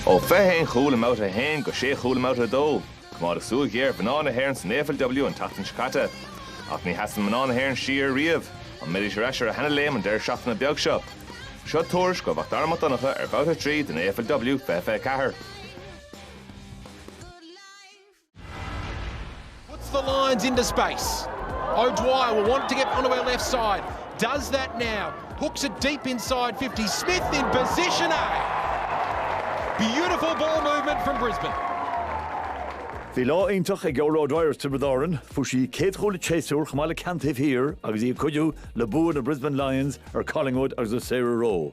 Ó fiche haon chúl i mbabhta a haon go sé chúl i mbabhta a dó, coimeádadh súil ghéar ar mhná na hÉireann san AFLW an tseachtain seo caite. Ach ní sheasann mná na hÉireann siar riamh. An mbeidís ar ais ar a sheana-léim an deireadh seachtaine beag seo? Seo tuairisc ó Mhacdara Mac Donncha ar bhabhta a trí den AFLW fiche fiche ceathair. Puts the lines into space. O'Dwyer will want to get onto her left side. Does that now. Hooks it deep inside 50. Smith in position A. Beautiful ball movement from Brisbane. Bhí lá iontach ag Orla O'Dwyer as Tiobraid Árann. Fuair sí a céad chúl an tséasúir chomh maith le ceann taobh thiar agus í ag cuidiú le bua na Brisbane Lions ar Collingwood agus ar Sarah Rowe.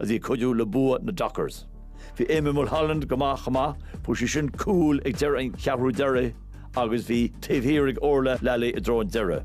is í ag cuidiú le bua na Dockers. Bhí Amy Mulholland go maith chomh maith, fuair sí sin cúl ag deireadh an cheathrú deiridh agus bhí taobh thiar ag Orlagh Lally i dtreo an deireadh.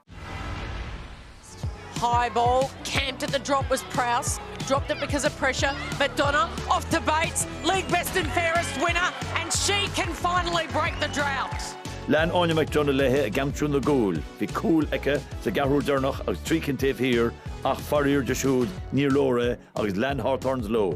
High ball, camped at the drop was Prowse, dropped it because of pressure, McDonagh off to Bates, league best and fairest winner, and she can finally break the drought. Lean Áine McDonagh léi ag aimsiú na gcúl, bhí cúl aici sa gceathrú deireanach agus trí cinn taobh thiar ach faraor di siúd níor leor é agus lean Hawthorns leo.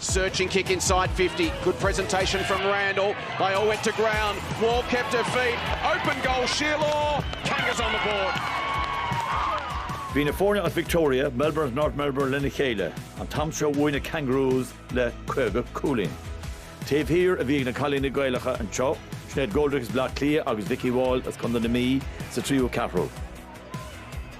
Searching kick inside 50. Good presentation from Randall. They all went to ground. Wall kept her feet. Open goal, Shierlaw. Kangas on the board. Bhí na foirne as Victoria, Melbourne agus North Melbourne lena chéile, an t-am seo bhuaigh na Kangaroos le 50 cúilín. Taobh thiar a bhí ag na cailíní Gaelacha anseo, Sinéad Goldrick as Bleá Cliath agus Vikki Wall as contae na Mí sa tríú ceathrú.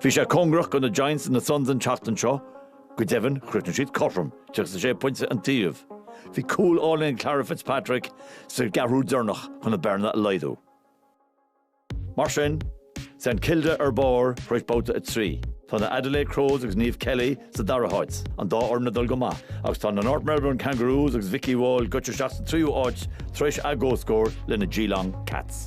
Bhí sé cóngarach go na Giants is na Suns an tseachtain seo, go deimhin chríochnaigh siad cothrom, 36 pointe an taobh. Bhí cúl álainn ag Clara Fitzpatrick sa gceathrú deireanach chun an bearna a laghdú. Mar sin, St Kilda ar barr tar éis babhta 3. Tá na Adelaide Crows agus Niamh Kelly Sa dara háit, an dá fhoireann ag dul go maith agus tá na North Melbourne Kangaroos agus Vikki Wall goite isteach sa tríú áit tar éis a gcomhscór le na Geelong Cats.